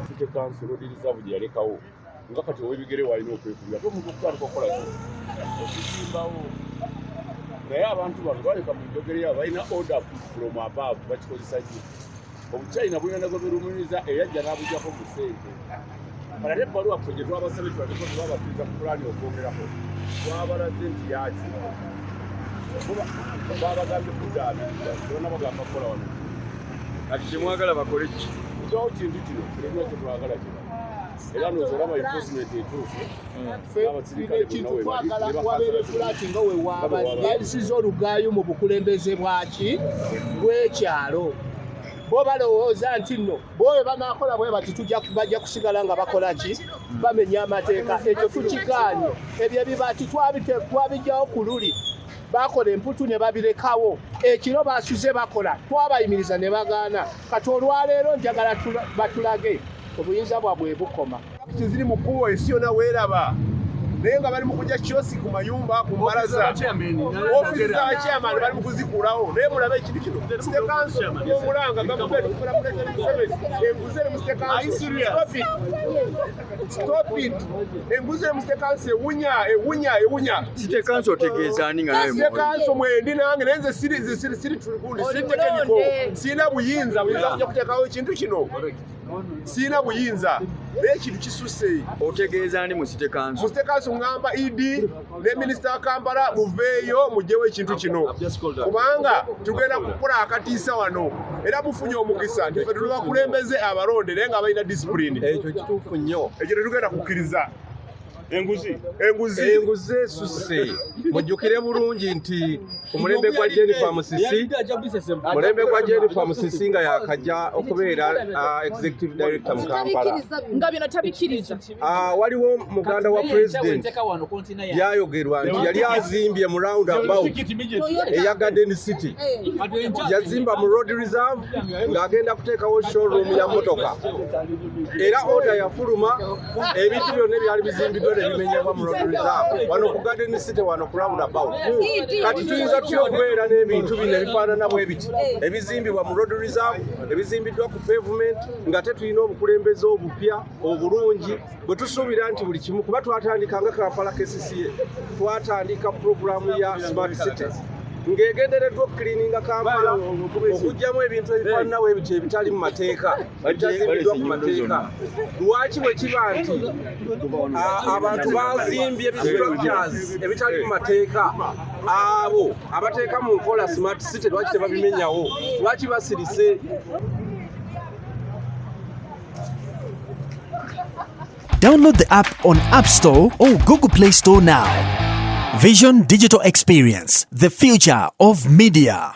City Council odiriza bwe yalekawo nga kati ow'ebigere walina okwekubira ate omuntu okutandika okukola ki okuzimbawo naye abantu bano baleka mu njogera yabo balina order from above bakikozesa ki obuchina bugenda gwe birumiriza era ajja n'abujjako mu ssente kala ne ebbaluwa ffe gye twabasabye tubaleko tebabatuuza ku pulaani okwogerako twabalaze nti yaki babagambye kudaabiriza bona bagamba kukola wano kati kyemwagala bakole ki kyawo kintu kino kirina kyetwagala kino era noza olaba enforcement etuufu ekintu twagala wabeere fulaati nga wewaabasiza olugaayo mu bukulembeze bwaki bwekyalo bo balowooza nti nno boyo banakola bwe bati bajja kusigala nga bakola ki bamenya amateeka ekyo tukikaanye ebyo ebibaati twabijjawo ku luli bakola emputu ne babirekawo ekiro basuze bakola twabayimiriza ne bagaana kati olwaleero njagala batulage obuyinza bwabwe bukoma Pakiti ziri mu kkubo ensi yona weeraba naye nga bali mu kujja kiosi ku mayumba ku mbalaza ofiisi z'abakyamani bali mu kuzikulawo naye mulabe ekintu kino sitekanso omulanga gavumenti kufuna pulezidenti museveni enguzi eri mu stopit enguzi eri mu sitekanso ewunya ewunya ewunya sitekanso otegeeza ani nga nawe sitekanso mwendi nange naye nze siri siri siri tulikundi siri tekeniko sirina buyinza buyinza kujja kuteekawo ekintu kino sirina buyinza naye ekintu kisusse otegeeza ndi musite kanso musite kanso ngamba ed ne minisita wa kampala muveeyo mugyewo ekintu kino kubanga tugenda kukola akatiisa wano era mufunye omukisa nti fe tuli bakulembeze abalonde naye nga balina disipulini ekyo kituufu nnyo ekyo tetugenda kukkiriza enguzi enguzi enguzi esusse mujjukire bulungi nti omulembe gwa jennifer musisi mulembe gwa jennifer musisi nga yakajja okubeera uh, executive director mu kampala nga bino tabikiriza uh, waliwo muganda wa president yayogerwa nti yali azimbye mu round about eya garden city yazimba mu road reserve ng'agenda kuteekawo showroom ya motoka era order yafuluma ebintu byonna ebyali bizimbiddwa ne bimenyebwa mu road reserve wano ku garden city wano ku round about kati tuyinza tutya okubeera n'ebintu bino ebifaanana bwe biti ebizimbibwa mu road reserve ebizimbiddwa ku pavement nga te tulina obukulembeze obupya obulungi bwe tusuubira nti buli kimu kuba twatandika nga kampala kcca twatandika puroguramu ya smart city ng'egendereddwa okukilininga kampala okugyamu ebintu ebifaanana bwe biti ebitali mu mateeka ekyasimbiddwa ku mateeka lwaki bwe kiba nti abantu bazimbye structures ebitali mu mateeka abo abateeka mu nkola smart city lwaki tebabimenyawo lwaki basirise Download the app on App Store or Google Play Store now. Vision Digital Experience, the future of media.